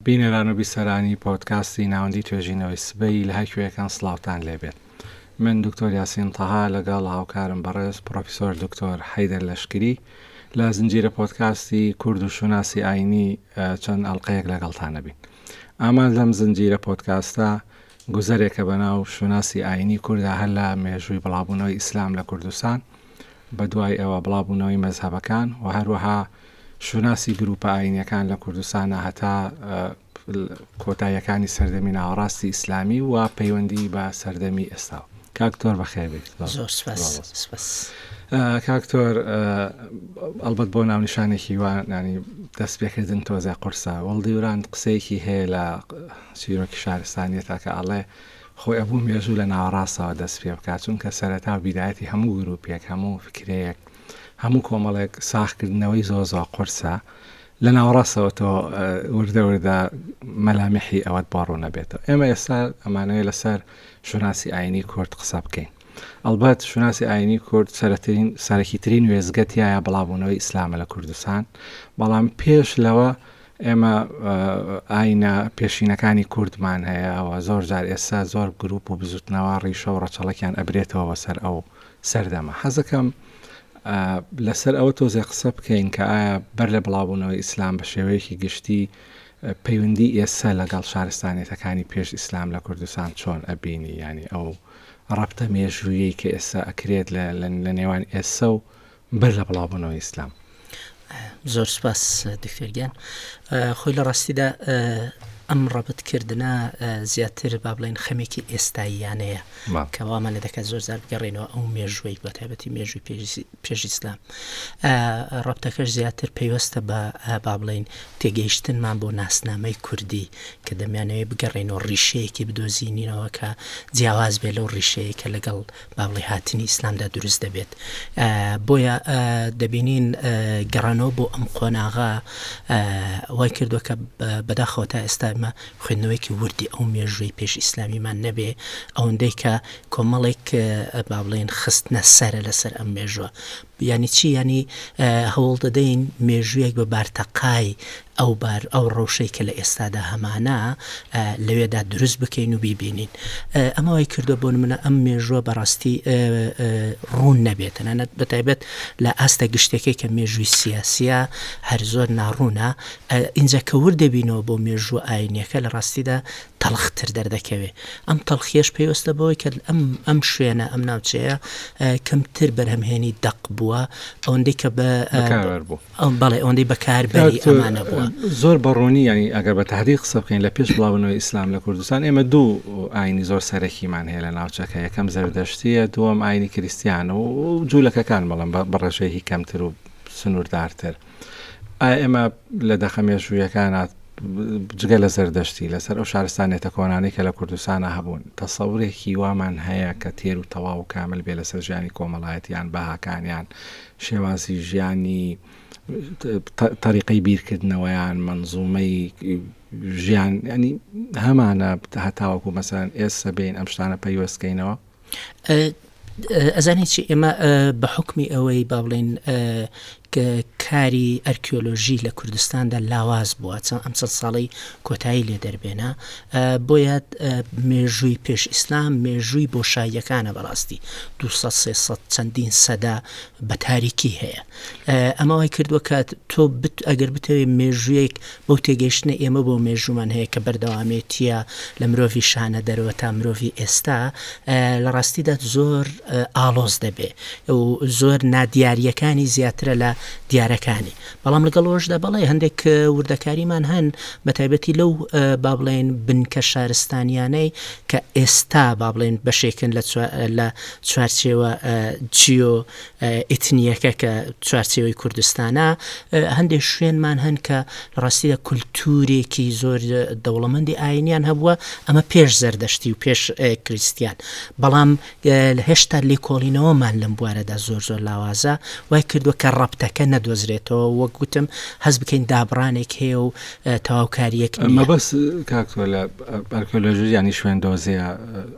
بینەران و بیسەرانی پۆدکاستی ناوەندی توێژینەوەی سبەی لە هەر کوێکن سڵاوتان لێ بێت. من دکتۆر یاسین تەها لەگەڵ هاوکارم بەڕێز پڕۆفیسۆر دکتۆر حەیدەر لەشکری لە زنجیرە پۆدکاستی کورد و شوناسی ئاینی چەند ئەڵلقەیەک لەگەڵتان نەبین. ئامال لەم زنجیرە پۆدکاستە گوزەرێکە بە ناو شوناسی ئاینی کوردا هەر لە مێژووی بڵاوبوونەوەی ئیسلام لە کوردستان بە دوای ئەوە بڵاوبوونەوەی مەزهەبەکان و هەروەها شوناسی گرووپە ئایینییەکان لە کوردستانە هەتا کۆتاییەکانی سەردەمی ناوەڕاستی ئیسلامی و پەیوەندی بە سەردەمی ئێستاوە کاکتۆر بەخێر بێت کاکتۆر ئەلبەت بۆ ناونیشانێکی وانانی دەست پێکردن تۆزە قورسە وەڵدیوران قسەیەکی هەیە لە چیرۆکی شارستانیە تاکە ئەڵێ خۆی ئەبوو مێژوو لە ناوەڕاستەوە دەست پێ بکات چونکە سەرەتا و بیداەتی هەموو گروپێک هەموو فکرەیەک هەموو کۆمەڵێک ساغکردنەوەی زۆر زۆر قورسە لە ناوەڕاستەوە تۆ وردە وردە مەلامیحی ئەوەت بۆ ڕوونەبێتەوە ئێمە ئێستا ئەمانەیە لەسەر شوناسی ئاینی کورد قسە بکەین ئەلبەت شوناسی ئاینی کورد سەرترین سەرەکیترین وێزگەتیایە بڵاوبوونەوەی ئیسلامە لە کوردستان بەڵام پێش لەوە ئێمە ئاینە پێشینەکانی کوردمان هەیە ئەوە زۆر جار ئێستا زۆر گروپ و بزوتنەوە ڕیشە و ڕەچەڵەکیان ئەبرێتەوە بەسەر ئەو سەردەمە. حەزەکەم لەسەر ئەوە تۆزێ قسە بکەین کە ئایا بەر لە بڵاوبوونەوەی ئیسلام بە شێوەیەکی گشتی پەیوەندی ئێستا لەگەڵ شارستانیەتەکانی پێش ئیسلام لە کوردستان چۆن ئەبینی ینی ئەو ڕەبتە مێژوویەی کە ئێستا ئەکرێت لە نێوان ئێسە و بەر لە بڵاوبوونەوەی ئیسلام. زۆر سپاس دکتۆر گیان خۆی لە ڕاستیدا ئەم ڕەبتکردە زیاتر با بڵێن خەمێکی ئێستاییانەیە کەوامان لە دەکات زۆر زار بگەڕێنەوە ئەو مێژوەی بە تایبەتی مێژوی پێشیسلام ڕەبتەکەش زیاتر پەیوەستە بە با بڵین تێگەیشتنمان بۆ ناسنامەی کوردی کە دەمیانەوەی بگەڕێنەوە ڕیشەیەکی بدۆزینەوە کە جیاواز بێ لەو ڕیشەیە کە لەگەڵ بەڵی هاتنی ئیسلامدا دروست دەبێت بۆیە دەبینین گەڕانەوە بۆ ئەم قۆناغا وای کردو کە بەداخەوە تا ئێستامە خوێندنەوەیکی وردی ئەو مێژووی پێش ئیسلامیمان نەبێ ئەوەندەی کە کۆمەڵێک بابلین خستنە سەرە لەسەر ئەم مێژوە یانی چی یانی هەوڵدەدەین مێژوویەک بە بارتەقای ئەو بار ئەو ڕەوشەی کە لە ئێستادا هەمانە لەوێدا دروست بکەین و بیبینین ئەمە وای کردو بۆن منە ئەم مێژووە بەڕاستی ڕوون نەبێت تەنانەت بەتایبەت لە ئاستە گشتەکەی کە مێژووی سیاسیە هەر زۆر ناڕوونە ئینجا کەور دەبینەوە بۆ مێژوو ئاینەکە لە ڕاستیدا تەڵختر دەردەکەوێ، ئەم تەڵخییەش پەیوەستە بەوەی کە ئەم ئەم شوێنە، ئەم ناوچەیە کەمتر بەرهەمهێنی دەق بووە، ئەوەندەی کە بە بەکاربەر بوو. ئەم بەڵێ ئەوەندەی بەکاربەری کاک، ئەمانە بووە. زۆر بە ڕوونی یانی ئەگەر بە تەحدید قسە بکەین لە پێش بڵاوبوونەوەی ئیسلام لە کوردستان ئێمە دوو ئاینی زۆر سەرەکیمان هەیە لە ناوچەکە، یەکەم زەردەشتییە، دووەم ئاینی کریستیانە و جوولەکەکان بەڵام بە بە ڕێژەیەکی کەمتر و سنووردارتر. ئایا ئێمە لە دەقە مێژوویەکانە جگە لە زەردەشتی لەسەر ئەو شارستانێتە کۆنانەی کە لە کوردستانە هەبوون تەسەورێکی وامان هەیە کە تێر و تەواو و کامل بێ لەسەر ژیانی کۆمەڵایەتیان بەهاکانیان شێوازی ژیانی طریقی بیرکردنەوەیان منزومەی ژیان ینی هەمانە هەتاوەکو مەسەن ئێستا بین ئەم شتانە پەیوەستکەینەوە ئەزانی چی ئێمە بە حکمی ئەوەی با بڵێن کاری ئەرکیۆلۆژی لە کوردستاندا لاواز بووە چەند ئەم چەند ساڵی کۆتایی لێ دەربێنە بۆ یاد مێژووی پێش ئیسلام مێژووی بۆ شایەکانە بەڕاستی دو چەندین سەدا بە تاریکی هەیە ئەمەوەی کردووە کات تۆ بت ئەگەر بتەوێت مێژوویەک بەو تێگەیشتنەی ئێمە بۆ مێژوومان هەیە کە بەردەوامێتییە لە مرۆڤی شانە دەرەوە تا مرۆڤی ئێستا لە ڕاستیدا زۆر ئاڵۆز دەبێ و زۆر نادیارریەکانی زیاترە لە دیارەکانی بەڵام لەگەڵ ئەوشدا بەڵێ هەندێک وردەکاریمان هەن بە تایبەتی لەو با بڵێن بنکە شارستانیانەی کە ئێستا با بڵێن بەشێکن لە لە چوارچێوە جیۆ ئیتنییەکە کە چوارچێوەی کوردستانە، هەندێک شوێنمان هەن کە لە ڕاستیدا کولتوورێکی زۆر دەوڵەمەندی ئایینیان هەبووە، ئەمە پێش زەردەشتی و پێش کریستیان، بەڵام هێشتا لێکۆڵینەوەمان لەم بوارەدا زۆر زۆر لاوازە، وای کردووە کە ڕەبتەکە نەدۆزرێتەوە، وەک گوتم هەست بکەین دابڕانێک هەیە و تەواوکارییەک نییە. مەبەست کاک تۆلە ئەرکیۆلۆژییانی شوێندۆزییە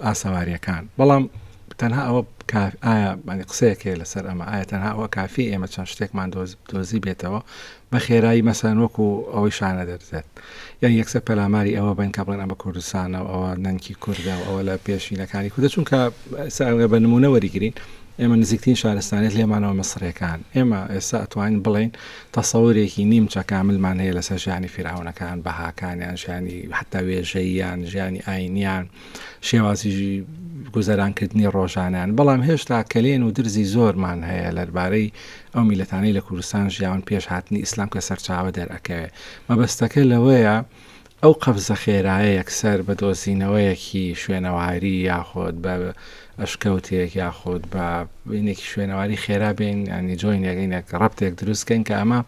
ئاسەوارییەکان، بەڵام تەنها ئەوە کاف ئایا بەنی قسەیەک هەیە لەسەر ئەمە ئایا تەنها ئەوە کافی ئێمە چەند شتێکمان دۆز دۆزی بێتەوە بە خێرایی مەسەن وەکو ئەوەی شانە دەردێت یان یەکسەر پەلاماری ئەوە بن کە بڵێن ئەمە کوردستانە و ئەوە نەنکی کوردە و ئەوە لە پێشینەکانی کوردە چونکە ساگە بە نمونە وەریگرین ئێمە نزیکترین شارستانێت لێمانەوە مەسرەکان ئێمە ئێستا ئەتوانین بڵین تەسەورێکی نیمچە کاملمان هەیە لەسەر ژیانی فیرعونەکان بەهاکانیان ژیانی حتا وێژەیان ژیانی ئاینیان شێوازی گوزەرانکردنی ڕۆژانیان بەڵام هێشتا کەلێن و درزی زۆرمان هەیە لەربارەی ئەو میلەتانەی لە کوردستان ژیاون پێش هاتنی ئیسلام کە سەرچاوە دەرەکەوێ مەبەستەکە لەوەیە ئەو قەفزە خێرایە یەکسەر بە دۆزینەوەیەکی شوێنەواری یاخۆت بە ئەشکەوتێک یاخۆت بە بینێکی شوێنەواری خێرا بین ینی جۆینەکەینێک ڕەبتێک دروستکەین کە ئەمە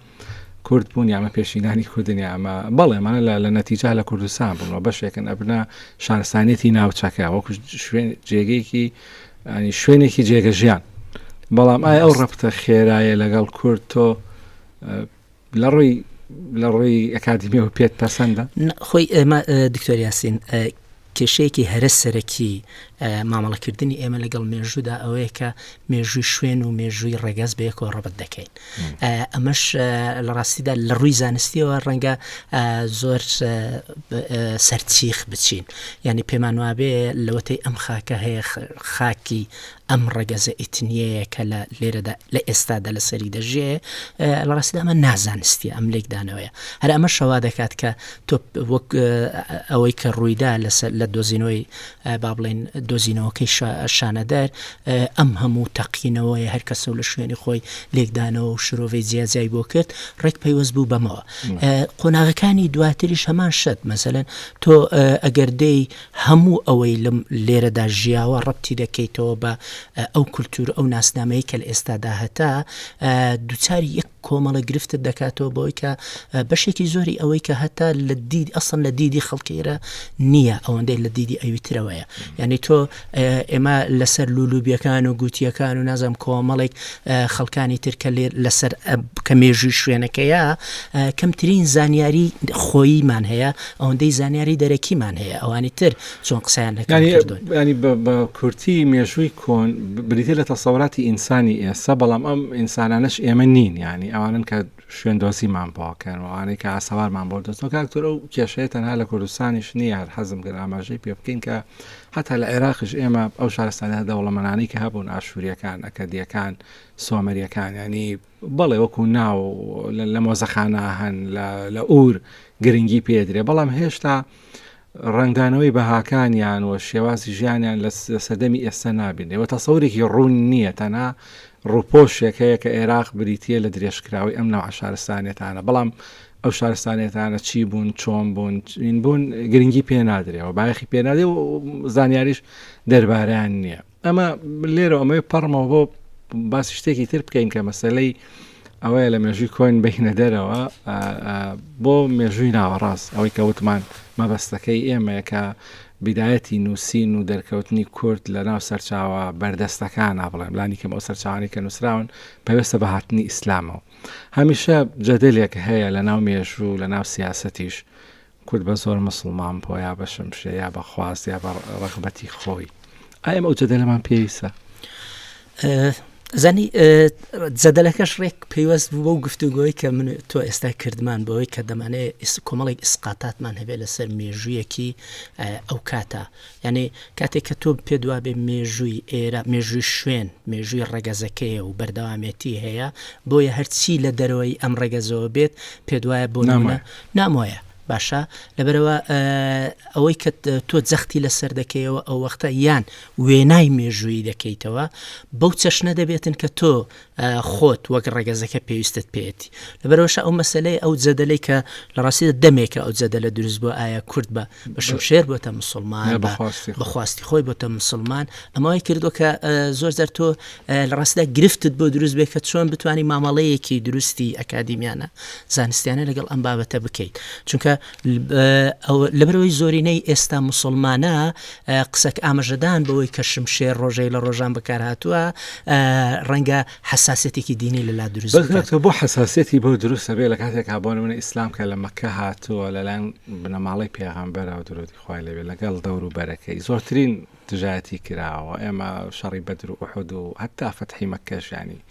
کورد بوون یا ئەمە پێشینانی کوردن یا ئەمە بەڵێ ئەمانە لە لە نەتیجە لە کوردستان بوون و بەشێکن ئەبنە شارستانیەتی ناوچەکە وەکو شوێن جێگەیەکی ئەنی شوێنێکی جێگە ژیان بەڵام ئایا ئەو ڕەفتە خێرایە لەگەڵ کورد تۆ لە ڕووی لە ڕووی ئەکادمیەوە پێت پەسەندە خۆی ئێمە دکتۆریاسین کێشەیەکی هەرە سەرەکی مامەڵەکردنی ئێمە لەگەڵ مێژوودا ئەوەیە کە مێژووی شوێن و مێژووی ڕێگەز بەیەکەوە ڕەبت دەکەین ئەمەش لە ڕاستیدا لە ڕووی زانستیەوە ڕەنگە زۆر سەرچیخ بچین ینی پێمان وابێ لەوەتەی ئەم خاکە هەیە خاکی ئەم ڕەگەزە ئیتنیەیە کە لە لێرەدا لە ئێستادا لە سەری دەژێ لە ڕاستدا ئەمە نازانستی ئەم لێکدانەوەیە هەر ئەمە شەوا دەکات کە تۆ وەک ئەوەی کە ڕوویدا لەسەر لە دۆزینەوەی با بڵێن دۆزینەوەکەی شانەدەر ئەم هەموو تەقینەوەی هەر کەسە و لە شوێنی خۆی لێکدانەوە و شرۆڤەی جیاجای بۆ کرد ڕێک پەیوەست بوو بەمەوە قۆناغەکانی دواتریش هەمان شت مەسەن تۆ ئەگەر دەی هەموو ئەوەی لەم لێرەدا ژیاوە ڕەبتی دەکەیتەوە بە ئەو کولتوور ئەو ناسنامەی کە لە ئێستادا هەتە دووچاری یەک کۆمەڵە گرفتت دەکاتەوە بۆی کە بەشێکی زۆری ئەوەی کە هەتا لە دید ئەسن لە دیدی خەڵکیرە نییە ئەوەندەی لە دیدی ئەویترەوەیە یعنی تۆ ئێمە لەسەر لولوبیەکان و گوتیەکان و نازم کۆمەڵێک خەڵکانی ترکە لێر لەسەر کە مێژووی شوێنەکەیە کەمترین زانیاری خۆیمان هەیە ئەوەندەی زانیاری دەرەکیمان هەیە ئەوانی تر چۆن قسەیان لەکان کردوون ینی بە کورتی مێژووی کۆن بریتە لە تەسەوراتی ئینسانی ئێستا بەڵام ئەم ئینسانانش ئێمە نین ینی ئەوانن کە شوێندۆزیمان بۆکەن وانەی کە ئاسەوارمان بۆ دەستەوە کاکتۆر ئەو کێشەیە تەنها لە کوردستانیش نییە هەر حەزم گەر ئاماژەی پێ بکەین کە حتا لە عێراقش ئێمە ئەو شارستانە دەوڵەمەنانی کە هەبوون ئاشووریەکان ئەکەدیەکان سۆمەریەکان ینی بەڵێ وەکو ناو لە مۆزەخانە هەن لە ئور گرنگی پێدرێ بەڵام هێشتا ڕنگدانەوەی بەهاکانیان و شێوازی ژیانیان لە سەردەمی ئێستا نابینێ و تەسەورێکی ڕوون نییە تەنها ڕوپۆشێک هەیە کە عێراق بریتە لە درێژکراوی ئەم ناو عشارستانێتانە بەڵام ئەو شارستانێتانە چی بوون چۆن بوون چین بوون گرنگی پێ نادرێەوە باەخی پێنادێ و زانیاریش دەربارەیان نییە ئەمە لێرە ئەمەوێ پەڕمەوە بۆ باسی شتێکی تر بکەین کە مەسلەی ئەوەیە لە مێژووی کۆین بینە دەرەوە بۆ مێژووی ناوەڕاست ئەوەی کە وتمان مەبەستەکەی ئێمەیەکە بدایەتی نووسین و دەرکەوتنی کورد لە ناو سەرچاوە بەردەستەکان نابڵێم لانی کەم ئەو سەرچوانی کە نووسراون پێویستە بە هاتنی ئیسلامەوە هەمیشە جەدلێک هەیە لە ناو مێژوو لە ناو سیاستیش کورد بە زۆر موسڵمان بووە یا بە شمشێر یا بە خواست یا بە ڕغبەتی خۆی ئایم ئەو جەدەلەمان پێویستە زانی جەدەلەکەش ڕێک پەیوەست بوو بەو گفتوگۆی کە من تۆ ئێستا کردمان بەوەی کە دەمانێت کۆمەڵێک ئیسقاتاتمان هەبێت لەسەر مێژوویەکی ئەو کاتە یانی کاتێک کە تۆ پێت وابێ مێژووی ئێرە مێژووی شوێن مێژووی ڕەگەزەکەیە و بەردەوامێتی هەیە بۆیە هەرچی لە دەرەوەی ئەم ڕەگەزەوە بێت پێت وایە بۆ نامە نامۆیە باشە لەبەرەوە ئەوەی کە تۆ جەختی لەسەر دەکەیەوە ئەو وەختە یان وێنای مێژوویی دەکەیتەوە بەو چەشنە دەبێتن کە تۆ خۆت وەک ڕەگەزەکە پێویستت پێێتی لەبەرەوەشە ئەو مەسلەی ئەو جەدەلەی کە لە ڕاستیدا دەمێکە ئەو جەدە لە دروست بۆ ئایا کورد بە بە شمشێر بۆتە مسلمان بەخواستی خۆی بۆتە مسلمان ئەمەوەی کردو کە زۆر زەر تۆ لە ڕاستدا گرفتت بۆ دروست بێ کە چۆن بتانی مامەڵەیەکی دروستی ئەکادیمیانە زانستیانە لەگەڵ ئەم بابەتە بکەیت چونکە لەبەرئەوەی زۆرینەی ئێستا موسڵمانە قسەک ئامژەدان بەوەی کە شمشێر ڕۆژەی لە ڕۆژان بەکارهاتووە ڕەنگە حساسەتێکی دینی لەلا دروست بۆ حساسەتی بۆ دروستە بێ لە کاتێک کابۆن منە ئیسلام کە لە مەکە هاتووە لەلایەن بنەماڵی پێغامبەرەوە درۆتی خوای لەوێ لەگەڵ دەور و بەرەکەی زۆرترین دژایەتی کراوە ئێمە شەڕی بەدر و ئوحود و هەتا فەتحی مەکەشانی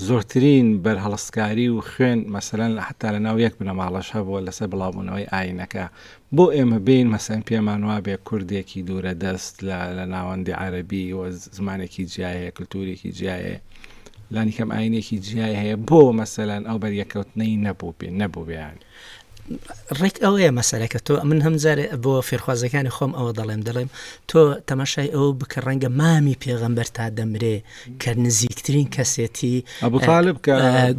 زۆرترین بەرهەڵستکاری و خوێن مەسەلەن حەتا لە ناو یەک بنەماڵەش هەبووە لەسەر بڵاوبوونەوەی ئاینەکە بۆ ئێمە بێین مەسەلەن پێمان وابێ کوردێکی دوورە دەست لە لە ناوەندی عەرەبی و زمانێکی جیا هەیە کلتوورێکی جیا هەیە لانیکەم ئاینێکی جیای هەیە بۆ مەسەلەن ئەو بەریەکەوتنەی نەبوو بێ نەبوو بێیان ڕێک ئەوەیە مەسەرەکە تۆ من هەمجارێ بۆ فێرخوازەکانی خۆم ئەوە دەڵێم دەڵێم تۆ تەماشای ئەو بکە ڕەنگە مامی پێغەمبەر تا دەمرێ کە نزیکترین کەسێتی ئەبوتالب کە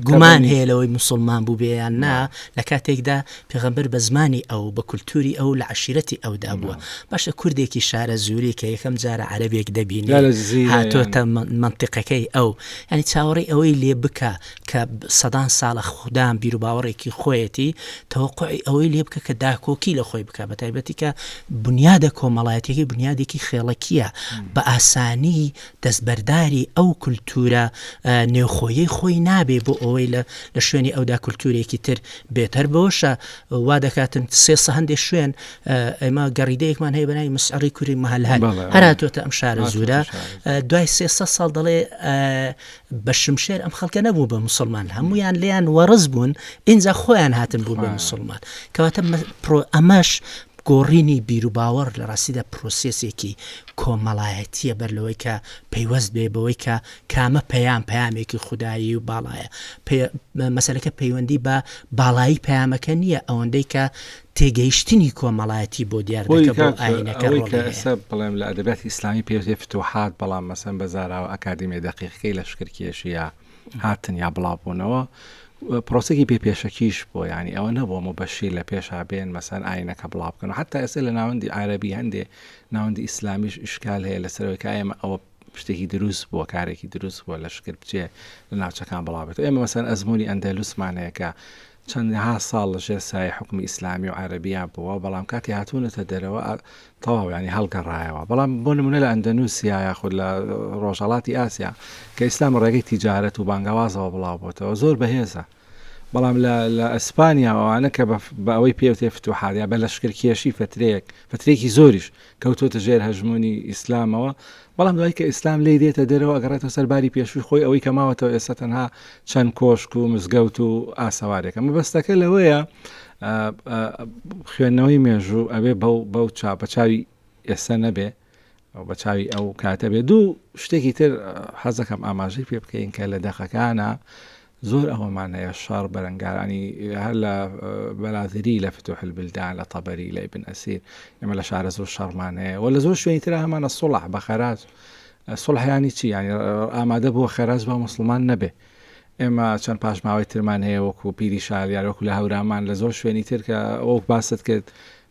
گومان هەیە لەوەی مسلمان بوو بێیان نا لە کاتێکدا پێغەمبەر بە زمانی ئەو بە کولتوری ئەو لە عشیرەتی ئەودا بووە باشە کوردێکی شارە زووری کە یەکەم جارە عەربێک دەبین هاتۆتە منطقەکەی ئەو ینی چاوەڕی ئەوەی لێ بکە کە سەدان ساڵە خودان بیروباوەڕێکی خۆیەتی، تەوەقوعی ئەوەی لێ بکە کە داکۆکی لە خۆی بکا، بەتایبەتی کە بونیادە کۆمەڵایەتییەکەی بونیادێکی خێڵەکییە، بە ئاسانی دەستبەرداری ئەو کولتوورە نێوخۆییەی خۆی نابێ بۆ ئەوەی لە شوێنی ئەودا کولتوورێکی تر بێت. هەر بەوەشە وا دەکاتن سێ سە هەندێ شوێن ئێمە گەڕیدەیەکمان هەیە بە ناوی مسعڕی کوری مەهەلهەل هەر هاتووەتە ئەم شارەزوورە دوای سێ سە ساڵ دەڵێ بە شمشێر ئەم خەڵکە نەبوو بە مسلمان هەمویان لیان وەڕز بوون ئینجا خۆیان هاتن بوو بە مسلمان کەواتە ئەمەش گۆڕینی بیروباوەڕ لە ڕاستیدا پرۆسیسێکی کۆمەڵایەتیە بەر لەوەی کە پەیوەست بێ بەوەی کە کامە پەیام پامێکی خودایی و باڵایە مەسلەکە پەیوەندی بە باڵایی پامەکە نییە ئەوەندەی کە تێگەیشتنی کۆمەڵایەتی بۆ دیار دەکە بۆ ئاینەکە ڕۆڵی هەیە. ئەوەی کە ئێستا بڵێم لە ئەدەبیاتی ئیسلامی پێی وترێ فتوحات بەڵام مەسەن بە زاراوە ئەکادیمیای دەقیقەکەی لەشکرکێشی یا هاتن یا بڵاوبوونەوە پرۆسەکی پێ پێشەکیش بۆ ینی ئەوە نەبووە مبەشیر لە پێشا بێن مەسەن ئاینەکە بڵاو بکەن حتا ئێستا لە ناوەندی عربی هەندێ ناوەندی ئیسلامیش ئیشکال هەیە لەسەرەوەی کە ئێمە ئەوە شتێکی دروست بووە کارێکی دروست بووە لە شکر بچێ لە ناوچەکان بڵاوێت ئێمە مەسەن ئەزمموی ئەندەلوسمانەیەکە چەندەها ساڵ لە ژێر سایەی حوکمی ئیسلامی و عەرەبییان بووە، بەڵام کاتی هاتوونەتە دەرەوە ئا تەواو یانی هەڵگەڕایەوە. بەڵام بۆ نموونە لە ئەندەنووسیا یاخود لە ڕۆژهەڵاتی ئاسیا کە ئیسلام لە ڕێگەی تیجارەت و بانگەوازەوە بڵاو بۆتەوە زۆر بەهێزە. بەڵام لە لە ئەسپانیا و ئەوانە کە بە بە ئەوەی پێ وترێ فتوحات یا بە لەشکرکێشی فترەیەک فترەیەکی زۆریش کەوتۆتە ژێر هەژموونی ئیسلامەوە بەڵام دوای کە ئیسلام لێی دێتە دەرەوە ئەگەڕێتەوە سەر باری پێشووی خۆی ئەوەی کە ماوەتەوە ئێستا تەنها چەند کۆشک و مزگەوت و ئاسەوارێکە مەبەستەکە لەوەیە خوێندنەوەی مێژوو ئەبێ بەو بەو چاپە چاوی ئێستا نەبێ بە چاوی ئەو کاتە بێ دوو شتێکی تر حەزەکەم ئاماژەی پێ بکەین کە لە دەقەکانە زۆر ئەوەمان هەیە شەڕ بەرەنگارانی هەر لە بەرادری لە فتوح البلدان لە تەبەری لە ابن ئەسیر ئێمە لە شارەزوور شەڕمان هەیە و لە زۆر شوێنی ترا هەمانە سوڵح بە خەراج سوڵحیانی چی ینی ئامادە بووە خەراج با مسلمان نەبێ ئێمە چەند پاشماوەی ترمان هەیە وەکو پیری شالیار وەکو لە هەورامان لە زۆر شوێنی تر کە ئەوک باست کرد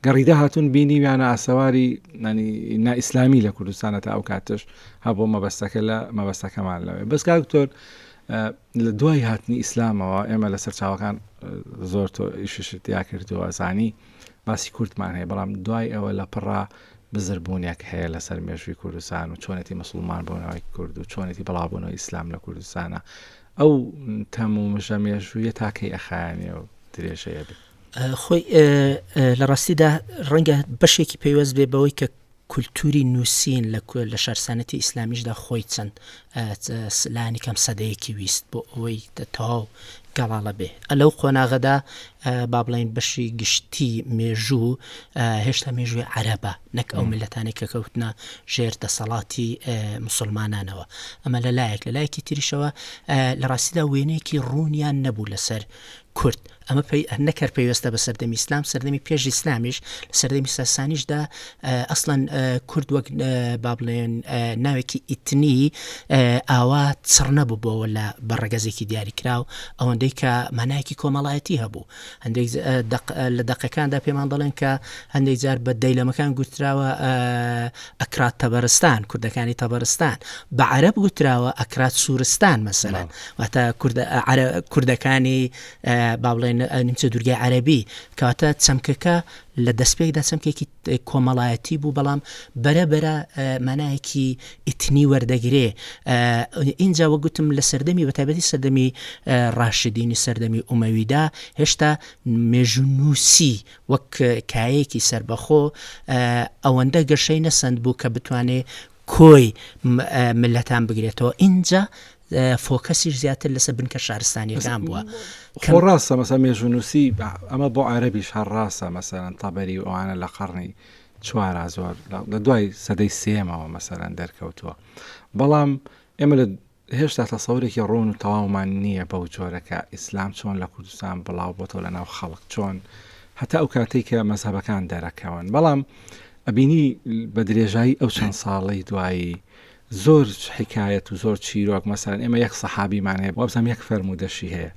گەڕیدا هاتون بینی ویانە ئاسەواری نانی نا ئیسلامی لە کوردستانە تا ئەو کاتش هەبوو مەبەستەکە لە مەبەستەکەمان لەوێ بەس کاکتۆر لە دوای هاتنی ئیسلامەوە ئێمە لە سەرچاوەکان زۆر تۆ ئیششت تیا کردووە زانی باسی کوردمان هەیە بەڵام دوای ئەوە لە پڕا بزربوونێک هەیە لەسەر مێژووی کوردستان و چۆنێتی مسلمان بۆنەوەی کورد و چۆنێتی بەڵاوبوونەوە ئیسلام لە کوردستانە ئەو تەم و مژە مێژوویە تاکەی ئەخایانێ و درێژەیە بێت خۆی لە ڕاستیدا ڕەنگە بەشێکی پەیوەست بێ بەوەی کە کولتووری نووسین لە کۆ لە شارستانێتی ئیسلامیشدا خۆی چەند لانی کەم سەدەیەکی ویست بۆ ئەوەی تەواو گەڵاڵە بێ ئە لەو قۆناغەدا با بڵین بەشی گشتی مێژوو هێشتا مێژووی عەرەبە نەک ئەو ملەتانی کە کەوتنە ژێر دەسەڵاتی مسلمانانەوە ئەمە لە لایەک لە لایەکی تریشەوە لە ڕاستیدا وێنەیەکی ڕوونیان نەبوو لەسەر کورد ئەمە پێی ئەنە کەر پێوێستە بە سەردەمی ئسلام سەردەمی پێش ئیسلامیش لە سەردەمی ساسانیشدا ئەسڵەن کورد وەک با بڵێن ناوێکی ئیتنی ئاوا چڕ نەبووبەوە لە بەڕگەزێکی دیاریکراو ئەوەندەی کە مانایەکی کۆمەڵایەتی هەبوو هەندێک لە دەقەکاندا پێمان دەڵێن کە هەندێک جار بە دەیلەمەکان گوتراوە ئەکرات تەبەرستان کوردەکانی تەبەرستان بە عرب گوتراوە ئەکرات سوورستان مەسەلا واتە کوردەکانی با بڵێن نیمچە دوورگەی عەربی کەواتە چەمکەکە لە دەستپێکدا چەمکێکی کۆمەڵایەتی بوو بەڵام بەرەبەرە مانایەکی ئیتنی وەردەگرێ ئینجا وەگوتم لە سەردەمی بەتابەتی سەردەمی ڕاشدینی سەردەمی ئومەویدا هێشتا مێژونووسی وەک کایەکی سربەخۆ ئەوەندە گەشەی نەسەند بوو کە بتوانێ کۆی ملەتان بگرێتەوە ئینجا فۆکەسیش زیاتر لەسە بنکە شارستانیەکان بووە خۆ ڕاستە مەسە مێژونووسی ئەمە بۆ عربیش هەر ڕاستە مەسەرەن تەبەری و ئەوانە لە قڕنی چوارا زۆر لە دوای سەدەی سێمەوە مەسەرەن دەرکەوتووە بەڵام ئێمە لە هێشتا تەسەورێکی ڕۆن و تەواومان نییە بەو جۆرەکە ئیسلام چۆن لە کوردستان بڵاو بۆتەوە لە ناو خەڵک چۆن هەتا ئەو کاتێک کە مەزهبەکان دەرەکەون بەڵام ئەبینی بە درێژایی ئەو چەند ساڵی دوایی زۆر حیکایەت و زۆر چیرۆک مەسەلەن ئێمە یەک سەحابیمان هەیە وابزانم یەک فەرموودەشی هەیە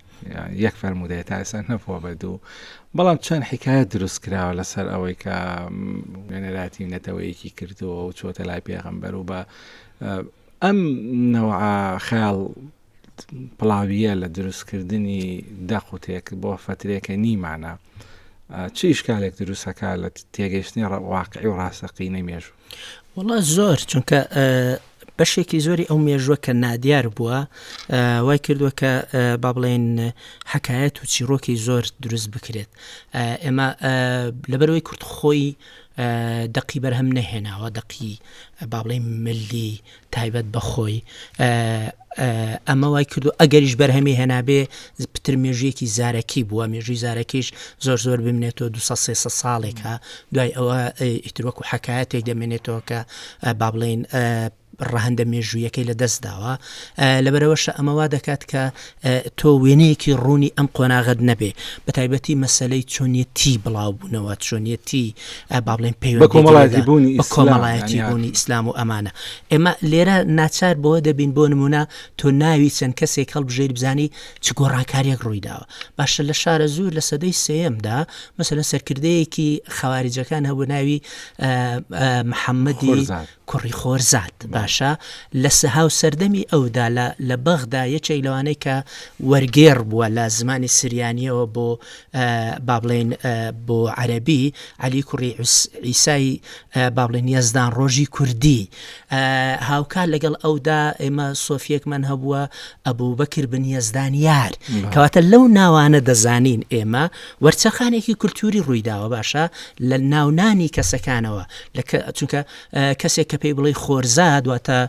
یەک فەرموودەیە تا ئێستا نەبووە بە دوو بەڵام چەند حیکایەت دروست کراوە لەسەر ئەوەی کە نوێنەراتی نەتەوەیەکی کردووە و چۆتە لای پێغەمبەر و بە ئەم نەوە خەیاڵ پڵاویە لە دروستکردنی دەق و تێک بۆ فترێکە نیمانە چی شکالێک دروستەکە لە تێگەشتنی واقعی و ڕاستەقینەی مێژوو وەڵا زۆر چونکە بەشێکی زۆری ئەو مێژوە کە نادیار بووە وای کردووە کە با بڵێن حکایەت و چیرۆکی زۆر دروست بکرێت ئێمە لەبەرەوەی کورت خۆی دەقی بەرهەم نەهێناوە دەقی با بڵێ ملی تایبەت بە خۆی ئەمە وای کردو ئەگەریش بەرهەمی هێنابێ پتر مێژویەکی زارەکی بووە مێژوی زارەکیش زۆر زۆر بمێنێتەوە دو سێ ساڵێکە دوای ئەوە ئیتروەک و حکایەتێک دەمێنێتەوە کە با بڵین ڕەهندە مێژوویەکەی لە دەست داوە لەبەرەوەش ئەمەوا دەکات کە ئە تۆ وێنەیەکی ڕوونی ئەم قۆناغەت نەبێ بەتایبەتی مەسەلەی چۆنیەتی بڵاو بوونەوە چۆنیەتی با بڵێن پێ بە کۆمەڵایەتی بوونی بە کۆمەڵایەتی بوونی ئیسلام و ئەمانە ئێمە لێرە ناچار بۆە دەبین بۆ نمونە تۆ ناوی چەند کەسێک هەڵبژێر بزانی چ گۆڕانکاریەک ڕوویداوە باشە لە شارە زوور لە سەدەی سێمدا مەسەن سەرکردەیەکی خەواریجەکان هەبوو ناوی محەممەدی کوڕی خۆرزاد باشە لە سهاو سەردەمی ئەودا لە لە بەغدا یەکێک لەوانەی کە وەرگێڕ بووە لە زمانی سریانییەوە بۆ با بڵێین بۆ عەرەبی عەلی کوڕی عیسای با بڵێن یەزدان ڕۆژی کوردی هاوکار لەگەڵ ئەودا ئێمە سۆفیەکمان هەبووە ئەبوو بەکر بن یەزدان یار کەواتە لەو ناوانە دەزانین ئێمە وەرچەخانێکی کولتوری ڕوویداوە باشە لە ناونانی کەسەکانەوە چونکە کەسێک کە پێی بڵی خۆرزاد واتە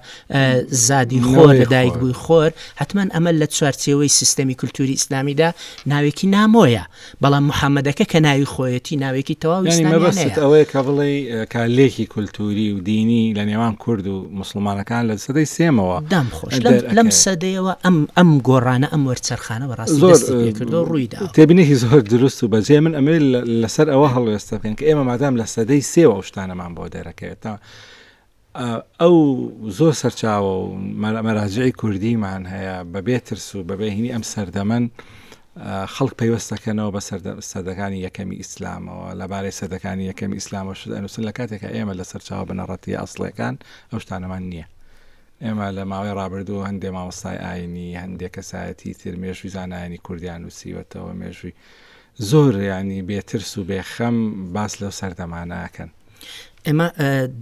زادی خۆر لە دایک بووی خۆر حتمما ئەمە لە چوارچێوەی سیستەمی کولتوری ئیسلامیدا ناوێکی نامۆیە بەڵام محەممەدەکە کە ناوی خۆیەتی ناوێکی تەواوی مەبەست ئەوەیە کە بڵێ کالێکی کولتوری و دینی لە نێوان کورد و موسڵمانەکان لە سەدەی سێمەوە دام خۆش لەم سەدەیەوە ئەم ئەم گۆڕانە ئەم وەرچەرخانە بەڕاستی دەستی کردو ڕوویدا تێبینێکی زۆر دروست و بەجێ من ئەمێ لەسەر ئەوە هەڵوێستە بکەن کە ئێمە مادام لە سەدەی سێوە ئەو شتانەمان بۆ دەرەکەوێت تا ئەو زۆر سەرچاوە و مەراجعی کوردیمان هەیە بەبێ ترس و بەبێهینی ئەم سەردەمەن خەڵک پەیوەست دەکەنەوە بە سەدەکانی یەکەمی ئیسلامەوە لەبارەی سەدەکانی یەکەمی ئیسلامەوە شت ئەنووسن لە کاتێکە ئێمە لە سەرچاوە بنەڕەتی ئەسڵەکان ئەو شتانەمان نییە ئێمە لە ماوەی ڕابردوو هەندێ مامۆستای ئاینی هەندێک کەسایەتی تر مێژوی زانایانی کوردیان نووسیوەتەوە مێژوی زۆر ینی بێترس و بێخەم باس لەو سەردەمانەکەن ئێمە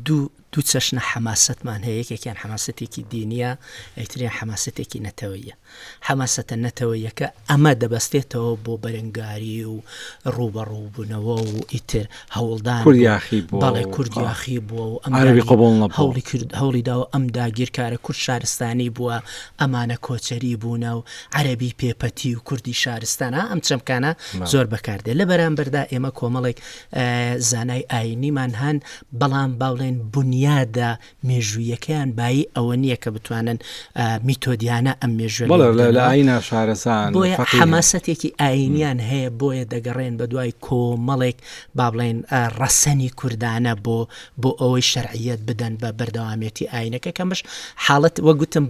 دوو دوو چەشنە حەماسەتمان هەیە، یەکێکیان حەماسەتێکی دینییە، ئەیتریان حەماسەتێکی نەتەوەیە. حەماسەتە نەتەوەیەکە ئەمە دەبەستێتەوە بۆ بەرەنگاری و ڕووبەڕووبوونەوە و ئیتر هەوڵدان کورد یاخی بووە، بەڵێ کورد یاخی بووە و ئەم عەرەبی قبوڵ نەبووە. هەوڵی کرد هەوڵی داوە ئەم داگیرکارە کورد شارستانی بووە، ئەمانە کۆچەری بوونە و عەرەبی پێپەتی و کوردی شارستان ها ئەم چەمکانە زۆر بەکاردێت. لە بەرامبەردا ئێمە کۆمەڵێک ئا زانای ئاینیمان هەن بەڵام باڵێن بونیادە مێژوویەکەیان بایی ئەوە نییە کە بتوانن میتۆدیانە ئەم مێژوێشارەسان حەماسەتێکی ئاینیان هەیە بۆیە دەگەڕێن بە دوای کۆمەڵێک با بڵێن ڕەسەنی کوردانە بۆ بۆ ئەوەی شەرعیت بدەن بە بەردەوامێتی ئاینەکە کەمش حاڵەت وەگوتم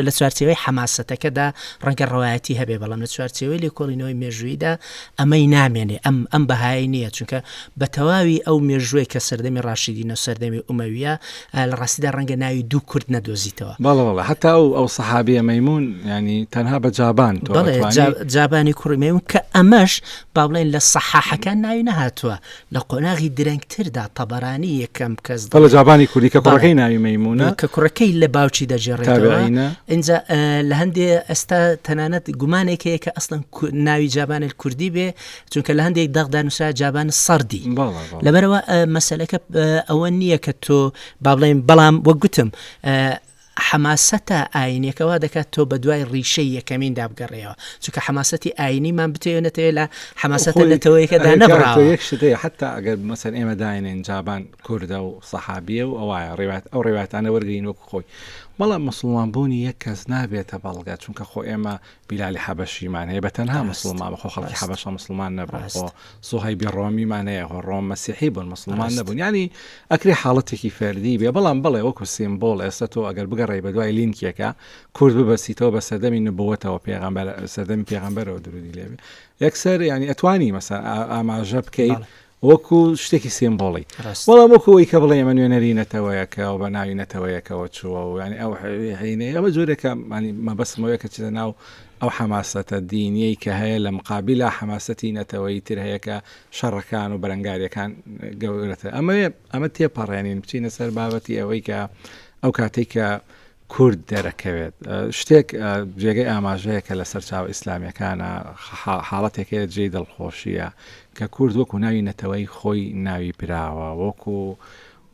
لە چوارچەوەی حەماسەتەکەدا ڕەنگە ڕواەتی هەبێ بەڵام لە چوارچەوەی لێکۆڵینەوەی مێژوویدا ئەمەی نامێنێ ئەم ئەم بەهایە نییە چونکە بە تەواوی ئەو مێژووی کە سەردەمی ڕاشیدینە و سەردەمی ئومەویە لە ڕاستیدا ڕەنگە ناوی دوو کورد نەدۆزیتەوە بەڵڵە هەتا و ئەو سەحابەیە مەمون ینی تەنها بە جابان جابانی کوڕی مەمون کە ئەمەش با بڵێن لە سەحاحەکان ناوی نەهاتووە لە قۆناغی درەنگتردا تەبەرانی یەکەم کەس دەڵێت. بەڵێ جابانی کوردی کە کوڕەکەی ناوی مەیموونە. کە کوڕەکەی لە باوکی دەگێڕێتەوە. تابعینە. ئینجا ئە، لە هەندێ ئەستا تەنانەت گومانێک هەیە کە ئەسڵەن کو، ناوی جابان الکردی بێ، چونکە لە هەندێک دەقدا نووسرا جابان السردی. بەڵێ، بەڵێ. لەبەرئەوە ئە، مەسەلەکە ئە، ئەوە نییە کە تۆ با بڵێین، بەڵام وەک گوتم ئە، حەماسەتە ئاینیەکە وا دەکات تۆ بە دوای ڕیشەی یەکەمیندا بگەڕێەوە چونکە حەماسەتی ئاینیمان بتەوێت نەتەوێت لە حەماسەتە نەتەوەیەکەدا نەبڕاوە یەک شتەیە حتا ئەگەر مەسەر ئێمە داێنێن جابان کوردە و سەحابیە و ئەوە ڕێوات ئەو ڕێواتانە وەرگین وەک خۆی بەڵام مسلمان بوونی یەک کەس نابێتە بەڵگە چونکە خۆ ئێمە بیلالی حەبەشی مان هەیە بە تەنها مسڵمان بەخۆ خەڵکی حەبەشە مسڵمان نەبوون خۆ سوهەیبی ڕۆمی مان هەیە خۆ ڕۆم مەسیحی بوون مسلمان نەبوون ینی ئەکری حاڵەتێکی فەردی بێ بەڵام بڵێ وەکو سیمبۆل ئێستا تۆ ئەگەر بگەڕێ بە دوای لینکێکە کورد ببەسیتەوە بە سەردەمی نبووەتەوە پێغمبەر سەردەمی پێغمبەرەوە درودی لێبێ یەکسەر ینی ئەتوانی مەسا ئاماژە بکەیت وەکو شتێکی سیمبۆڵی وەڵام وەکو ئەوی کە بڵێ ئەمە نوێنەری نەتەوەیەکە و بە ناوی نەتەوەیەکەوە چووە و ینی ئەو هەینەیە بە جۆرێکە مانی مەبەستمەوەیە کە چیدە ناو ئەو حەماسەتە دینیەی کە هەیە لە مقابللا حەماسەتی نەتەوەی تر هەیەکە شەڕەکان و بەرەنگاریەکان گەورەتە ئەمەوێ ئەمە تێپەڕێنین بچینە سەر بابەتی ئەوەی کە ئەو کاتێک کە کورد دەرەکەوێت. شتێک جێگەی ئاماژەیە کە لە سەرچاوە ئیسلامیەکانە حاڵەتێک هەیە جێی دڵخۆشیە کە کورد وەکو ناوی نەتەوەی خۆی ناوی براوە وەکو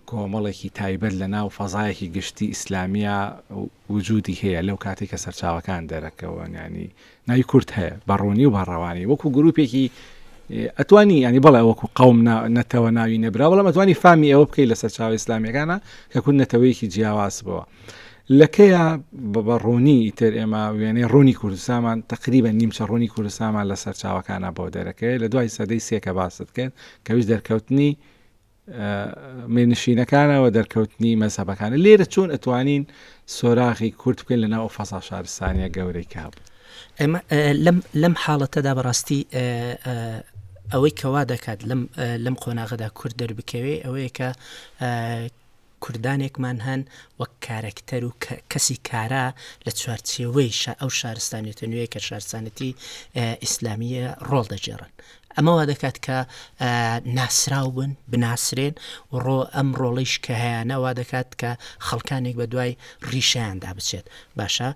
کۆمەڵێکی تایبەت لە ناو فەزایەکی گشتی ئیسلامیە وجودی هەیە لەو کاتی کە سەرچاوەکان دەرەکەوەن ینی ناوی کورد هەیە بە ڕوونی و بە ڕەوانی وەکو گروپێکی ئەتوانی ینی بڵێ وەکو قوم نەتەوە ناوی نەبرا بەڵام ئەتوانی فامی ئەوە بکەیت لە سەرچاو ئیسلامیەکانە کە کورد نەتەوەیەکی جیاواز بەوە لەکەیە بە ڕوونی ئیتر ئێمە وێنەی ڕوونی کوردستانمان تقریبە نیمچە ڕوونی کوردستانمان لە سەرچاوەکانە بۆ دەرەکەی لە دوای سەدەی سێکە باست کرد کەویش دەرکەوتنی مێنشینەکانە و دەرکەوتنی مەزهەبەکانە لێرە چۆن ئەتوانین سۆراغی کورت بکەین لە ناو فەسا شارستانیە گەورەی کە هەبوو لەم حاڵەتەدا بەڕاستی ئەوەی کەوا دەکات لەم قۆناغدا کورد دەربکەوێ ئەوەیە کە کوردانێکمان هەن وەک کارەکتەر و کەسی کارا لە چوارچێوەی ئەو شارستانیەتە نوێیە کە شارستانەتی ئیسلامیە ڕۆڵ دەگێڕن ئەمە وا دەکات کە ناسراو بن بناسرێن و ڕۆ ئەم ڕۆڵیش کە هەیەەوە دەکات کە خەڵکانێک بە دوای ڕیشیاندا بچێت باشە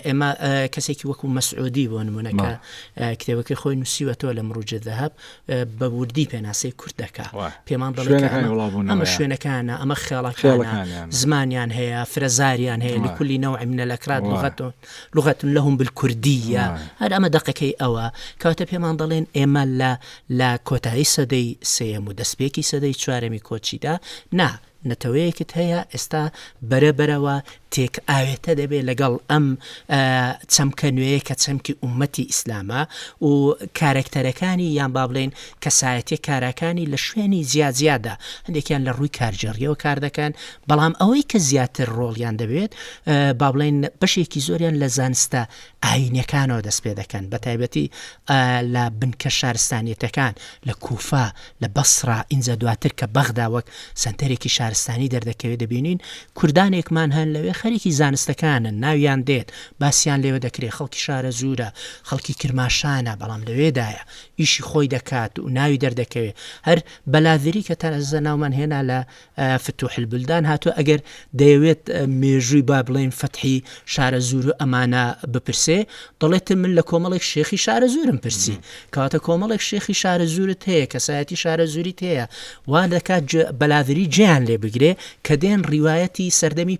ئێمە کەسێکی وەکو مەسعودی بۆ نمونونەکە کتێبەکەی خۆی نووسیوە تۆ لە مروجێ دەهب بە وردی پێناسەی کورد دەکا پێمان دەڵێ شوێنەکانە ئەمە خێڵەکەڵەکە زمانیان هەیە فرەزاریان هەیە لە کولی نەوە منە لە کرات لغەتۆن لغەتن لە هەم بالکوردیە هەر ئەمە دقەکەی ئەوە کاتە پێمان دەڵێن ئێمە لە لە کۆتایی سەدەی سێم و دەستپێکی سەدەی چوارەمی کۆچیدا نا نەتەوەیەکت هەیە ئێستا بەرە بەرەوە تێک ئاوێتە دەبێت لەگەڵ ئەم چەمکە نوێیە کە چەمکی ئومەتی ئیسلامە و کارکتەرەکانی یان با بڵێن کەسایەتی کاراکانی لە شوێنی جیاجیادا هەندێکیان لە ڕووی کارجێڕیەوە کار دەکەن بەڵام ئەوەی کە زیاتر ڕۆڵیان دەبێت با بڵێن بەشێکی زۆریان لە زانستە ئاینەکانەوە دەست پێ دەکەن بە تایبەتی لە بنکە شارستانیەتەکان لە کوفا لە بەسڕا، ئینجا دواتر کە بەغدا وەک سەنتەرێکی شارستانی دەردەکەوێت دەبینین کوردانێکمان هەن لەوێ خەریکی زانستەکانن، ناویان دێت، باسیان لێوە دەکرێت، خەڵکی شارەزوورە، خەڵکی کرماشانە، بەڵام لەوێدایە، ئیشی خۆی دەکات و ناوی دەردەکەوێت، هەر، بەلاذری، کە تازە ناومان هێنا لە فتوح البلدان هاتووە ئەگەر دەیەوێت مێژووی با بڵێن فەتحی شارە زور و ئەمانە بپرسێ دەڵێت من لە کۆمەڵێک شێخی شارە زورم پرسی کاتە کۆمەڵێک شێخی شارە زورت هەیە کەسایەتی شارە زوری تەیە وا دەکات بەلاویری جیان لێ بگرێ کە دێن ڕیواەتی سەردەمی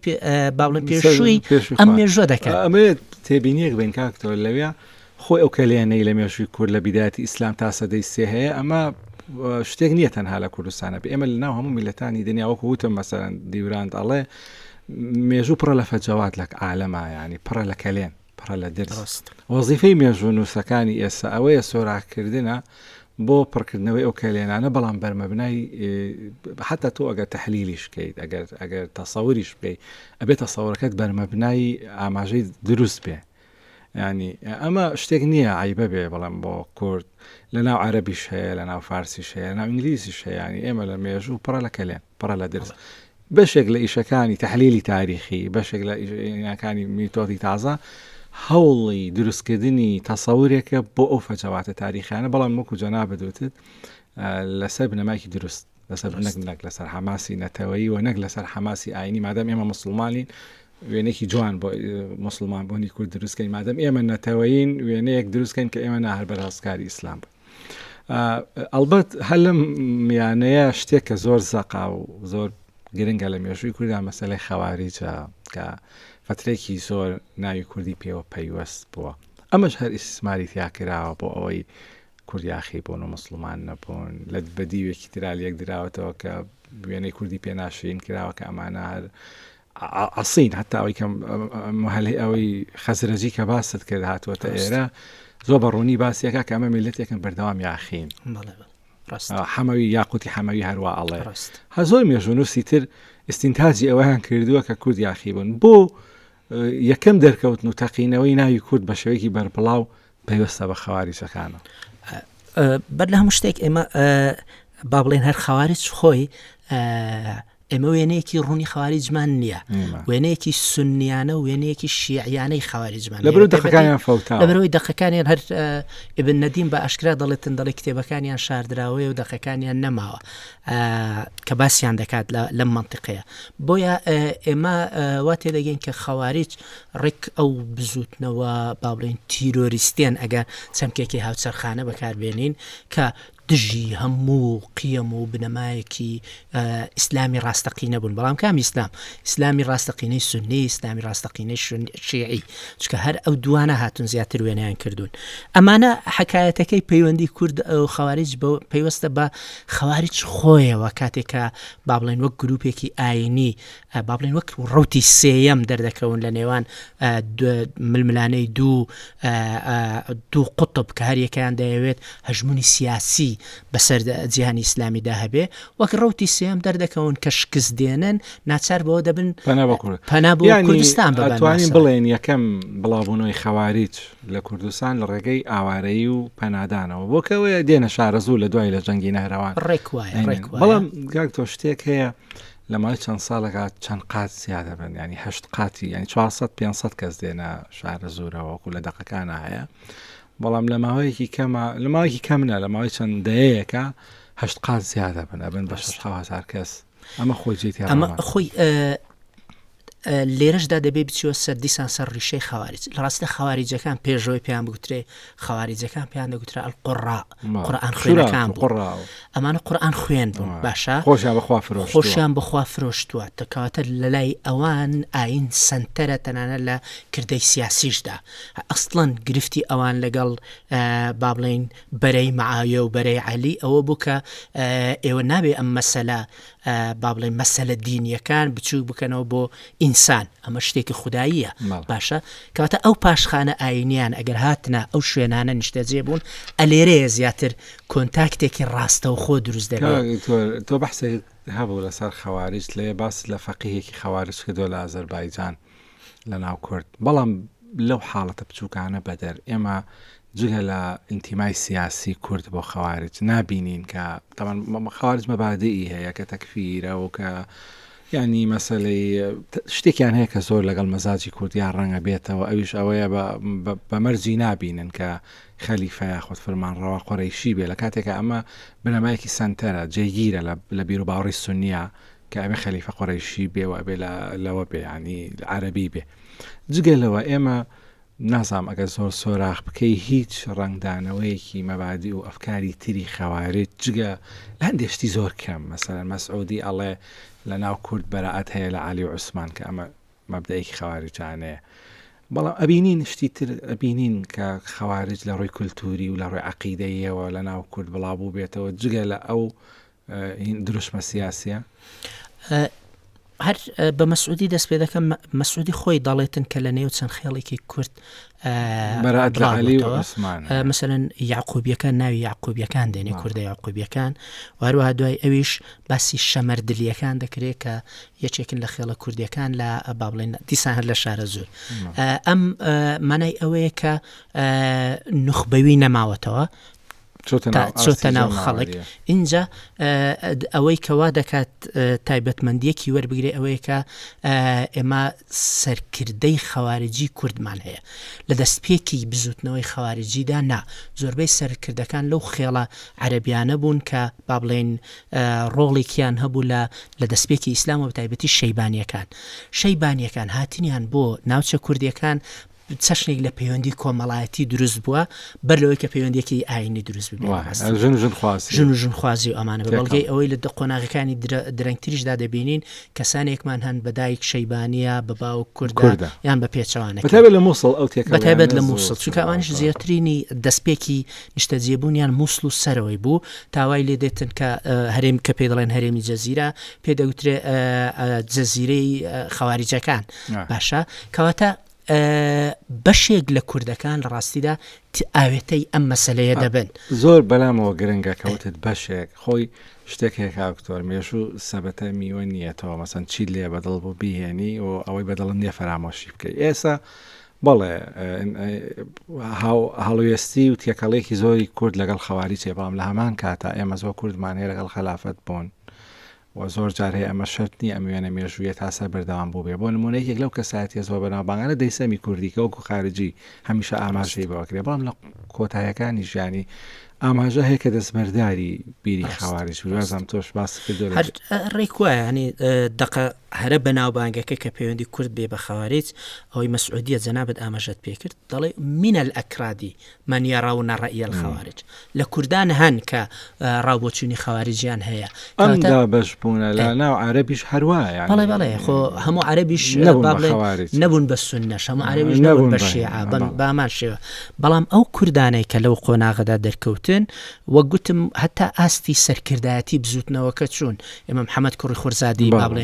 باڵە پێشووی ئەم مێژوە دەکات ئەمێت تێبینیەک بین کاکتەوە لەوێ خۆی ئەو کەلێنەی لە مێژووی کورد لە بیدایەتی ئیسلام تا سەدەی سێ هەیە ئەمە شتێک نییە تەنها لە کوردستانە بێ ئێمە لە ناو هەموو میلەتانی دنیا وەکو وتم مەسەرەن دیوراند ئەڵێ مێژوو پڕە لە فەجەوات لە عالەما ینی پڕە لە کەلێن پڕە لە درست وەزیفەی مێژوو نووسەکانی ئێستا ئەوەیە سۆراکردنە بۆ پڕکردنەوەی ئەو کەلێنانە بەڵام بەرمەبنای حتا تۆ ئەگەر تحلیلیش بکەیت ئەگەر ئەگەر تەسەوریش بکەیت ئەبێت تەسەورەکەت بەرمەبنای ئاماژەی دروست بێ یانی ئەمە شتێک نییە عەیبە بێ بەڵام بۆ کورد لە ناو عەرەبیش هەیە لە ناو فارسیش هەیە لە ناو ئینگلیزیش هەیە ینی ئێمە لە مێژوو پڕە لە کەلێن پڕە لە درز بەشێک لە ئیشەکانی تحلیلی تاریخی بەشێک لە ئیناکانی میتۆدی تازە هەوڵی دروستکردنی تەسەورێکە بۆ ئەو فەجەواتە تاریخیانە بەڵام وەکو جەنابەت وتت لەسەر بنەمایکی دروست لەسەر نەک نەک لەسەر حەماسی نەتەوەیی و نەک لەسەر حەماسی ئاینی مادەم ئێمە مسلمانین وێنێکی جوان بۆ مسلمان بوونی کورد دروستکەین مادەم ئێمە نەتەوەین وێنەیەک دروستکەین کە ئێمە ناهر بەرهەستکاری ئیسلام بوو. ئەلبەت هەلم میانەیە شتێک کە زۆر زەقا و زۆر گرنگە لە مێژووی کورددا مەسلەی خەواریجە کە فترێکی زۆر ناوی کوردی پێوە پەیوەست بووە ئەمەش هەر ئیسماری تیاکراوە بۆ ئەوەی کورد یاخی بوون و موسڵمان نەبوون لە بە دیوێکی تررا لەک دراوەتەوە کە وێنەی کوردی پێ ناشرین کراوە کە ئەمانە هەر عسین هەتا ئەوی کەم هەلی ئەوەی خەزرەجی کە باست کرد هاتووەتە ئێرە زۆ بە ڕوونی باسیەکە کە ئەمە میلەتێکم بەردەوام یاخین حەمەوی یاقوتی حەمەوی هەروە ئەڵێ هە زۆر مێژونوسی تر ئستینتاجی ئەوەیان کردووە کە کورد یاخی بوون بۆ یەکەم دەرکەوتن و تەقینەوەی ناوی کورد بە شێوەیەکی بەربڵاو پەیوەستە بە خەواریجەکانە بەر لە هەموو شتێک ئێمە با بڵێن هەر خەواریج خۆی ئێمە وێنەیەکی ڕوونی خاواری جمان نییە وێنەیەکی سنیانە و وێنەیەکی شیعیانەی خاواری جمان لە دەخەکانیان فوتا لەبەرەوەی دەخەکانیان هەر ئبن نەدیم بە ئاشکرا دەڵێتن دەڵی کتێبەکانیان شاردراوەیە و دەخەکانیان نەماوە کە باسییان دەکات لەم منطقەیە بۆیە ئێمە وا تێدەگەین کە خەواریج ڕێک ئەو بزووتنەوە با بڵێین تیرۆریستیان ئەگە چەمکێکی هاوچەرخانە بەکاربێنین کە دژی هەموو قیەم و بنەمایەکی ئیسلامی ڕاستەقینە بوون بەڵام کام ئیسلام ئیسلامی ڕاستەقینەی سنی ئیسلامی ڕاستەقینەی شیعی چکە هەر ئەو دوانە هاتون زیاتر وێنیان کردوون ئەمانە حکایەتەکەی پەیوەندی کورد ئەو خەواریج بە پەیوەستە بە خەواریج خۆیەوە کاتێکە با بڵێن وەک گروپێکی ئاینی با بڵێن وەک ڕوتی سێیەم دەردەکەون لە نێوان ململانەی دوو دوو قوتب کە هەریەکەیان دەیەوێت هەژمونی سیاسی بەسەر جیهانی ئیسلامیدا هەبێ وەک ڕوتی سێم دەردەکەون کە شکست دێنن ناچار بەوە دەبن پەنا بۆ کوردستان بەتوانین بڵێن یەکەم بڵاوبوونەوەی خەواریج لە کوردستان لە ڕێگەی ئاوارەیی و پەنادانەوە بۆکەوەیە دێنە شارەزوو لە دوای لە جەنگی نەهرەوان ڕێک وایە بەڵام گاک تۆ شتێک هەیە لە ماوەی چەند ساڵێکا چەند قات زیا دەبن ینی هەشت قاتی ینی 400 500 کەس دێنە شارە زۆرەوەکو لە دەقەکان هەیە بەڵام لە ماوەیەکی کەمە لە ماوەیەکی کەم منە لە ماوەی چەند دەیەیەەکە هەشت قات زیادە بن ئەبن بە 6 هزار کەس ئەمە خۆی جێتی ئەمە خۆی لێرەشدا دەبێ بچوە سەر دیسان سەر ڕیشەی خەوارج لە ڕاستە خەواریجەکان پێشەوەی پێیان بگوترێ خەواریجەکان پێیان دەگوترا قڕا قورآان خوێنەکان بڕا ئەمانە قورآان خوێن بوون باشە خۆشیان بخوا فرۆش خۆشیان بخوا فرۆشتووە تەکاتە لە لای ئەوان ئاین سنتەرە تەنانە لە کردەی سیاسیشدا ئەستڵەن گرفتی ئەوان لەگەڵ با بڵین بەرەی معاویە و بەرەی علی ئەوە بوو کە ئێوە نابێ ئەم مەسەلا با بڵێ مەسەلە دینیەکان بچوو بکەنەوە بۆ ئینسان ئەمە شتێکی خودداییە باشە کەواتە ئەو پاشخانە ئاینیان ئەگەر هاتنا ئەو شوێنانە نیشتەجێ بوون ئەلێرەیە زیاتر کۆنتاکتێکی ڕاستەو خۆ دروست دەبێت تۆ بەحسێک هەبوو لەسەر خەواریش لێ باس لە فەقیهێکی خەوارش کردو لە ئازەربایجان لەناو کورد، بەڵام لەو حاڵەتە بچووکانە بەدەر، ئێمە جگە لە ئینتیمای سیاسی کورد بۆ خەوارج نابینین کە تەمان خەوارج مەبادی هەیە کە تەکفیرە و کە ینی مەسلەی شتێکیان هەیە کە زۆر لەگەڵ مەزاجی کوردیان ڕەنگە بێتەوە ئەویش ئەوەیە بەمەرجی نابینن کە خەلیفە یاخود فرمان ڕەوا قۆرەیشی بێ لە کاتێکە ئەمە بنەمایەکی سنتەرە جێگیرە لە بیر و باوەڕی سنیە کە ئەبێ خەلیفە قوڕەیشی بێ و ئەبێ لەوە بێ یانی عەرەبی بێ جگە لەوە ئێمە نازام ئەگەر زۆر سۆراخ بکەی هیچ ڕنگدانەوەیەکی مەبادی و ئەفکاری تری خەوارێت جگە لە هەندێشتی زۆر کەم مەسەر مەسعودی ئەڵێ لە ناو کورد بەرەعات هەیە لە عالی و عوسمان کە ئەمە مەبدەیەکی خەوارجانەیە بەڵام ئەبینین شتی تر ئەبینین کە خەوارج لە ڕووی کولتوری و لە ڕووی عقیدەیەوە لە ناو کورد بڵاو بوو بێتەوە جگە لە ئەو هین دروشمە سیاسیە؟ هەر بە مەسعودی دەست پێ دەکەم مەسعودی خۆی دەڵێتن کە لە نێو چەند خێڵێکی کورد مەسەن یاقوبیەکان ناوی یاقوبیەکان دێنێ کوردە یاقوبیەکان واروها دوای ئەویش باسی شەمەر دلیەکان دەکرێت کە یەکێکن لە خێڵە کوردیەکان لە بابلێن دیسان هەر لە شارە زۆر ئەم مانای ئەوەیە کە نخبەوی نەماوەتەوە چۆتە ناو خەڵک ئینجا ئەوەی کەوا دەکات تایبەتمەندیەکی وەربگرێ ئەوەیەکە ئێمە سەرکردەی خەوارجی کوردمان هەیە لە دەستپێکی بزوتنەوەی خەوارجیدا نا زۆربەی سەرکردەکان لەو خێڵە عەربیانە بوون کە با بڵێن ڕۆڵێکیان هەبوو لە لە دەستپێکی ئیسلام و تایبەتی شەیبانیەکان شەیبانیەکان هاتنیان بۆ ناوچە کوردیەکان چەشنێک لە پەیوەندی کۆمەڵایەتی دروست بووە بەر لەوەی کە پەیوەندێکی ئاینی دروست ژن و ژنخوازی و ئەمانە بە بەڵگەی ئەوەی لە دە قۆناغەکانی درەنگتریشدا دەبینین کەسانێکمان هەن بە دایک شەیبانە بە باو کوردکردە یان بە پێچوانە لە مووسڵ ئەو تێکبەتابێت لە مووسڵ چونکەوانش زیاترینی دەستپێکی نیشتەجێبوونیان مووسڵ و سەرەوەی بوو تاوای لێ دێتن کە هەرێم کە پێ دەڵێن هەرێمی جەزیرە پێدەوترێ جەزیرەی خەواریجەکان باشە کەواتە بەشێک لە کوردەکان لە ڕاستیدا ئاوێتەی ئەم مەسەلەیە دەبن. زۆر بەلامەوە گرنگە کە وتت بەشێک خۆی شتێک هەیە کاکتۆر مێژوو سەبەتە میوە نیەتەوە مەسەن چی لێ بەدڵ بوو بیهێنی و ئەوەی بەدڵم نیە فەرامۆشی بکەی ئێسا بەڵێ هەڵوێستی و تێکەڵێکی زۆری کورد لەگەڵ خەواری چێ بەڵام لە هەمان کاتا ئێمە زۆر کوردمانەیە لەگەڵ خەلافەت بوون وە زۆر جار هەیە ئەمە شەرت نییە ئەم وێنە مێژوویە تا سەر بەردەوام بووبێ بۆ نموونە یەکێک لەو کەسایەتیە زۆر بەناوبانگانە دەیسەمی کوردی کە وەکو خارجی هەمیشە ئاماژەی بۆ ئەکرێ بەڵام لە کۆتایەکانی ژیانی ئاماژە هەیە کە دەستبەرداری بیری خەواریش بوو وازم تۆش باس کردو هەر ڕێک وایە هەنی دقە هەرە بەناوبانگەکە کە پەیوەندی کورد بێ بە خەوارێت ئەوەی مەسعودیە جەنابەت ئاماژەت پێکرد دەڵێ منە ئەکرادی من یرون رای الخوارج لە کوردان هەن کە ڕاو بۆچوونی خەواریجیان هەیە ئەم دابەش بوونە لە ناو عەرەبیش هەروایە بەڵێ بەڵێ خۆ هەموو عەرەبیش نەبوون بە بڵێ خەوارج. نەبوون بە سنەش هەموو عەرەبیش نەبوون نەبوون بە بە شیعە بەڵێ. بەم- بامان شێوە بەڵام ئەو کوردانەی کە لەو قۆناغەدا دەرکەوتن وەک گوتم هەتا ئاستی سەرکردایەتی بزووتنەوەکە چوون ئێمە محەممەد کوڕی خورزادی با بڵێ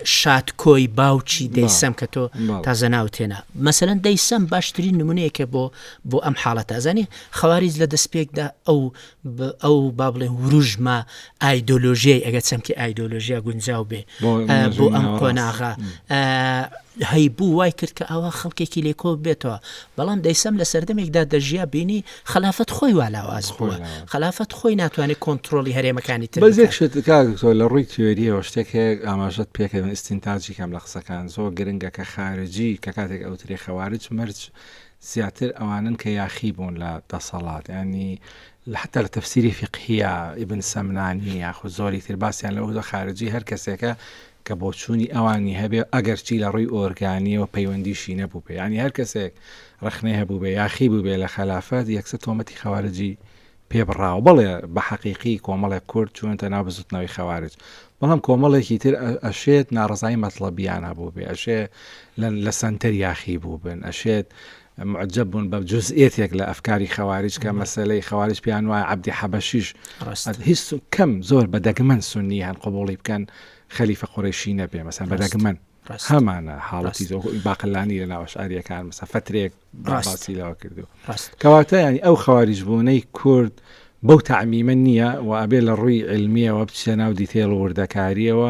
شاتکۆی باوکی دەیسەم کە تۆ تازە ناو تێنا مەسەن دەیسەم باشترین نمونەیەکە بۆ بۆ ئەم حاڵەت ئازانی خەواریز لە دەستپێکدا ئەو ئەو با بڵێ وروژمە ئایدۆلۆژیای ئەگە چەمکی ئایدۆلۆژیا گونجاو بێ بۆ ئەم قۆناغا هەی بوو وای کرد کە ئەوە خەڵکێکی لێکۆ بێتەوە بەڵام دەیسەم لە سەردەمێکدا دەژیا بینی خەلافەت خۆی وا لاواز بووە خەلافەت خۆی ناتوانێت کۆنتترۆلی هەرێمەکانی تر بەزێک شت کاکتۆ لە ڕووی تیۆریەوە شتێک هەیە ئاماژەت پێکەوە ئستینتاجی کەم لە قسەکان زۆر گرنگە کە خارجی کە کاتێک ئەوترێ خەوارج مەرج زیاتر ئەوانن کە یاخی بوون لە دەسەڵات ینی حتا لە تەفسیری فقهە ئیبن سەمنانی یاخود زۆری تر باسییان لەەوە خارجی هەر کەسێکە کە بۆچوونی ئەوانی هەبێ، ئەگەرچی لە ڕووی ئۆرگانییەوە پەیوەندیشی نەبوو پێ، یانی هەر کەسێک ڕەخنەی هەبووبێ، یاخی بووبێ لە خەلافەت، یەکسەر تۆمەتی خەوارجی پێ بڕاوە. بەڵێ، بە حەقیقی کۆمەڵێک کورد چوونەتە ناو بزووتنەوەی خەوارج، بەڵام کۆمەڵێکی تر ئەشێت ناڕەزایی مەتڵەبییان هەبووبێ، ئەشێ لە سەنتەر یاخی بووبن، ئەشێت موعجەب بوون بە جوزئیەتێک لە ئەفکاری خەواریج کە مەسەلەی خەواریج پێیان وایە عەبدی حەبەشیش ڕاست هیچ کەم زۆر بە دەگمەن سوننی هەن قبوڵی بکەن خەلیفە قوڕەیشی نەبێ مەسەن بە ڕاست دەگمەن ڕاست هەمانە حاڵەتی ڕاست زۆ باقلانی لە ناو ئەشعەرییەکان مەسە فترەیەک با ڕاست باسی لەوە کردووە ڕاست کەواتە یانی ئەو خەواریج بوونەی کورد بەو تەعمیمە نییە و ئەبێ لە ڕووی عیلمییەوە بچیە ناو دیتەیڵ و وردەکارییەوە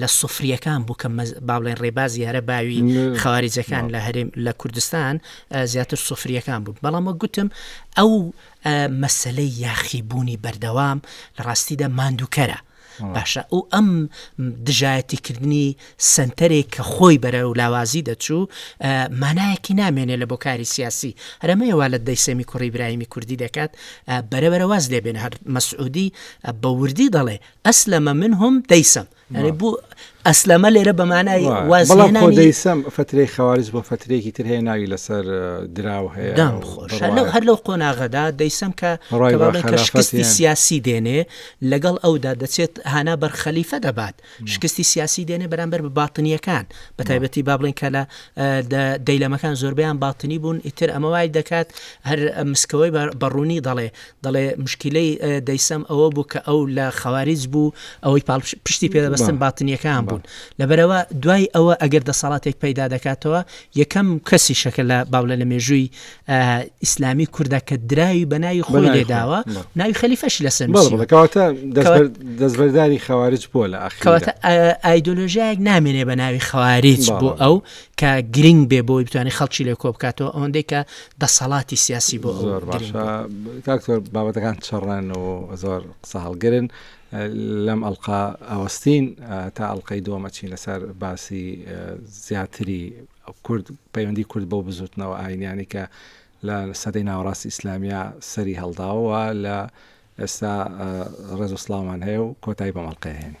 لە سفریەکان بوو کە با بڵێن ڕێباز یارە باوی خواریجەکان لە هەرێم لە کوردستان زیاتر سفریەکان بوو بەڵام وە گوتم ئەو مەسلەی یاخیبوونی بەردەوام لە ڕاستیدا ماندووکەرە باشە ئەو ئەم دژایەتیکردنی سنتەرێک کە خۆی بەرە و لاوازی دەچوو مانایەکی نامێنێ لە بۆ کاری سیاسی هەرمەیەوا لە دەیسەمی کوڕی برایمی کوردی دەکات بەرەبەرە واز لێبێن هەر مەسعودی بە وردی دەڵێ ئەسلەمە من هم دەیسەم یعنی بوو ئەسلەمە لێرە بەمانای بەڵام خۆ دەیسەم فترەی خەوارج بۆ فترێکی تر هەیە ناوی لەسەر دراو هەیە دام خۆش لەو هەر لەو قۆناغەدا دەیسەم کە شکستی سیاسی دێنێ لەگەڵ ئەودا دەچێت هانا بەر خەلیفە دەبات شکستی سیاسی دێنێ بەرامبەر بە باتنیەکان بە تایبەتی با بڵێن کە لە دەیلەمەکان زۆربیان باتنی بوون ئیتر ئەمە وای دەکات هەر مسکەوەی بەڕوونی دەڵێ دەڵێ مشکیلەی دەیسەم ئەوە بوو کە ئەو لە خەواریج بوو ئەوەی پاڵ پشتی پێدەبستن باتنیەکان بوون لەبەرەوە دوای ئەوە ئەگەر دەسەڵاتێک پەیدا دەکاتەوە یەکەم کەسی شەکە لە باولە لە مێژووی ئیسلامی کووردا کە دراوی بەناوی خۆی لێداوە ناوی خەلیفەش لەسەر دەستبەرداری خەوارج بووە لە ئەخواتە ئایدۆلۆژیایەک نامێنێ بە ناوی خەواریج بۆ ئەو کە گرنگ بێ بۆی بتوانانی خەڵکی لێ کۆبکاتەوە ئەوەندەی کە دەسەڵاتی سیاسی بۆ زۆر باشە کاک تۆر بابەتەکان چڕەن و زۆر قسە هەڵگرن لەم ئەلقا ئاوەستین تا ئەلقەی دووەمەچین لەسەر باسی زیاتری کورد پەیوەندی کورد بەو بزوتنەوە ئاینیانی کە لە سەدەی ناوەڕاستی ئیسلامیا سەری هەڵداوە لە ئێستا ڕێز و سلااومان هەیە و کۆتایی بەمەڵقەیە هێنی